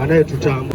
anayetutamba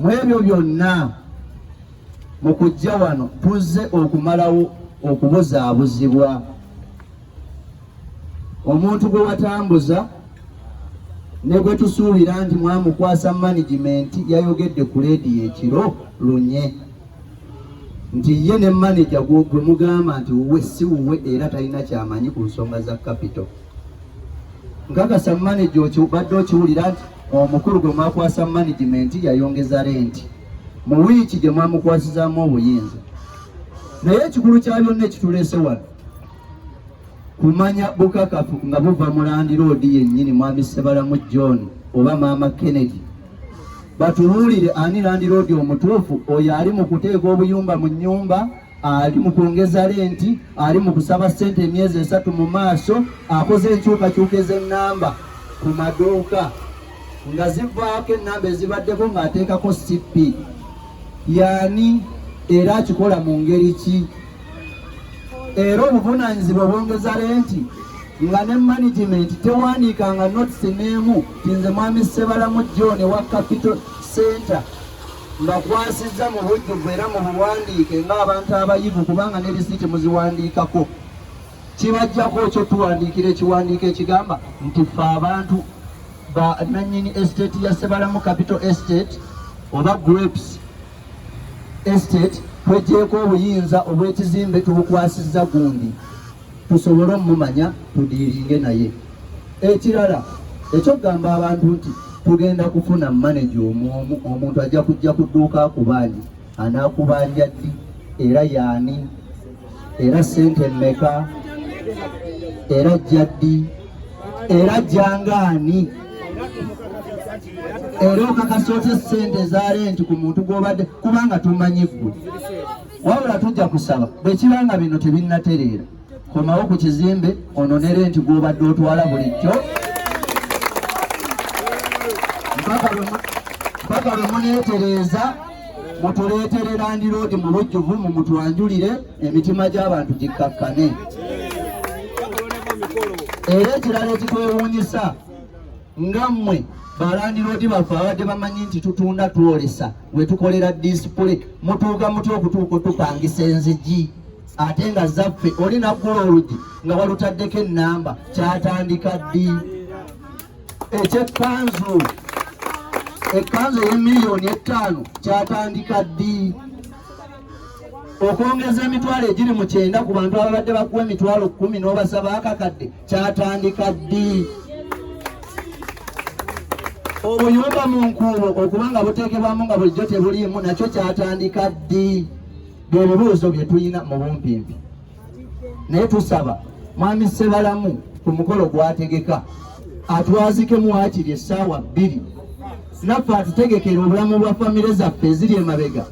mwebyo byonna mu kujja wano tuzze okumalawo okubuzaabuzibwa omuntu gwe watambuza ne gwe tusuubira nti mwamukwasa managimenti yayogedde ku leediyo ekiro lunye nti ye ne maneja gwe mugamba nti wuwe si wuwe era talina kyamanyi ku nsonga za kapito nkakasa maneja okibadde okiwulira nti omukulu gwe mwakwasa manajimenti yayongeza renti mu wiiki gye mwamukwasizaamu obuyinza naye ekikulu kya byonna ekituleese wano kumanya bukakafu nga buva mu landiroodi yennyini mwami ssebalamu john oba maama kennedy batubuulire ani landiroodi omutuufu oyo ali mu kuteeka obuyumba mu nnyumba ali mu kwongeza lenti ali mu kusaba ssente emyezi esatu mu maaso akoze enkyukakyuka ez'ennamba ku maduuka nga zivaako ennamba ezibaddeko ng'ateekako cp yaani era akikola mu ngeri ki era obuvunaanyizibwa obwongeza lenti nga ne management tewandiikanga notisi n'emu ti nze mwami ssebalamu john wa capital center mbakwasizza mu bujjuvu era mu buwandiike ng'abantu abayivu kubanga ne lisiiti muziwandiikako kibajjako ekyo tuwandiikira ekiwandiiko ekigamba nti ffe abantu ba nannyini estate ya sebalamu capital estate oba grapes estate twejjeeko obuyinza obw'ekizimbe tubukwasizza gundi tusobole omumanya tudiiringe naye ekirala ekyokugamba abantu nti tugenda kufuna maneja omwomu omuntu ajja kujja ku dduuka akubanje anaakubanja ddi era yaani era sente mmeka era ajja ddi era ajjangaani era okakasa otya sente za renti ku muntu gwobadde kubanga tumanyi ggwe wabula tujja kusaba bwe kiba nga bino tebinnatereera komawo ku kizimbe ononere nti gwobadde otwala bulijjo mpaka lwe muneetereeza mutuleetere landiroodi mu bujjuvu mu mutwanjulire emitima gy'abantu gikkakkane era ekirala ekitwewuunyisa nga mmwe balandiroodi baffe abadde bamanyi nti tutunda twolesa we tukolera disipule mutuuka mutya okutuuka otupangisa enzigi ate nga zaffe oli naggula olugi nga walutaddeko ennamba kyatandika ddi ekyekkanzu ekkanzu ey'emiliyoni ettaano kyatandika ddi okwongeza emitwalo egiri mu kyenda ku bantu ababadde bakuwa emitwalo kumi n'obasaba akakadde kyatandika ddi obuyumba mu nkuubo okuba nga buteekebwamu nga bulijjo tebuliimu nakyo kyatandika ddi bye bibuuzo bye tulina mu bumpimpi naye tusaba mwami Ssebalamu ku mukolo gwategeka atwazike muwakiri essaawa bbiri naffe atutegekera obulamu bwa famire zaffe eziri emabega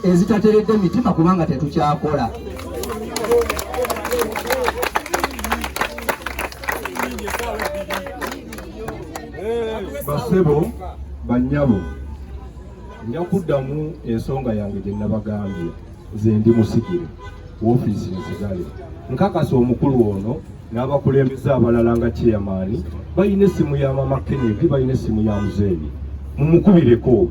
ezitateredde mitima kubanga tetukyakola basebo banyabo nja kuddamu ensonga yange gye nabagambye nze ndi musigire woofiisi nzigale nkakasa omukulu ono n'abakulembeze abalala nga kyeyamaani balina essimu ya mama kenedi balina essimu ya muzeeyi mumukubireko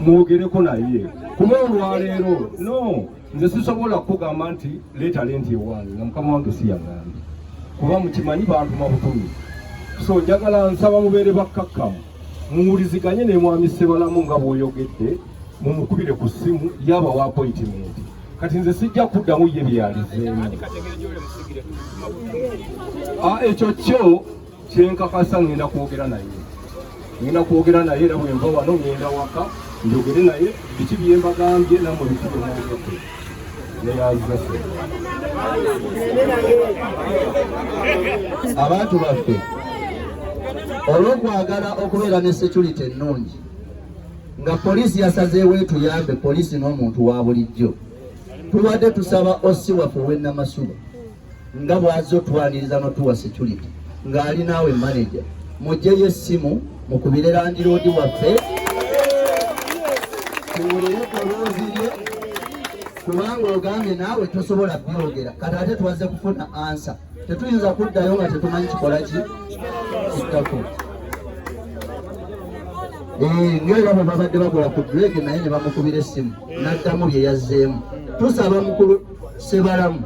mwogereko naye kuba olwaleero no nze sisobola kukugamba nti leeta lenti ewange nga mukama wange siyagambye kuba mukimanyi bantu mabutumi so njagala nsaba mubeere bakkakkamu muwuliziganye ne mwami ssebalamu nga bw'oyogedde mumukubire ku ssimu yaba wa appointment kati nze sijja kuddamu ye byeyalizeemu ah, ekyo kyo kyenkakasa ngenda kwogera naye ngenda kwogera naye era bwenva wano ngenda waka njogere naye biki byembagambye namwe biki byemwogedde neyazase abantu baffe olwokwagala okubeera ne security ennungi nga poliisi yasazeewo etuyambe poliisi n'omuntu wa bulijjo tubadde tusaba osi waffe ow'ennamasuba nga bw'azze otwaniriza n'otuwa security ng'ali naawe manaja mugyeyo essimu mukubire landiroodi waffe tuwulire eddoboozi lye kubanga ogambye naawe tosobola byogera kati ate twazze kufuna ansa tetuyinza kuddayo nga tetumanyi kikola ki kittako nyo era bwe babadde bakola ku drege naye ne bamukubira essimu n'addamu bye yazzeemu tusaba mukulu sebalamu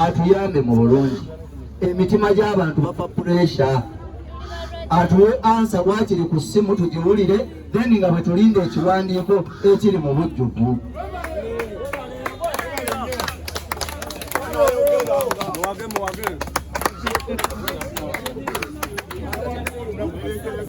atuyambe mu bulungi emitima gy'abantu bapa puresha atuwe ansa wakiri ku ssimu tugiwulire then nga bwe tulinda ekiwandiiko ekiri mu bujjuvu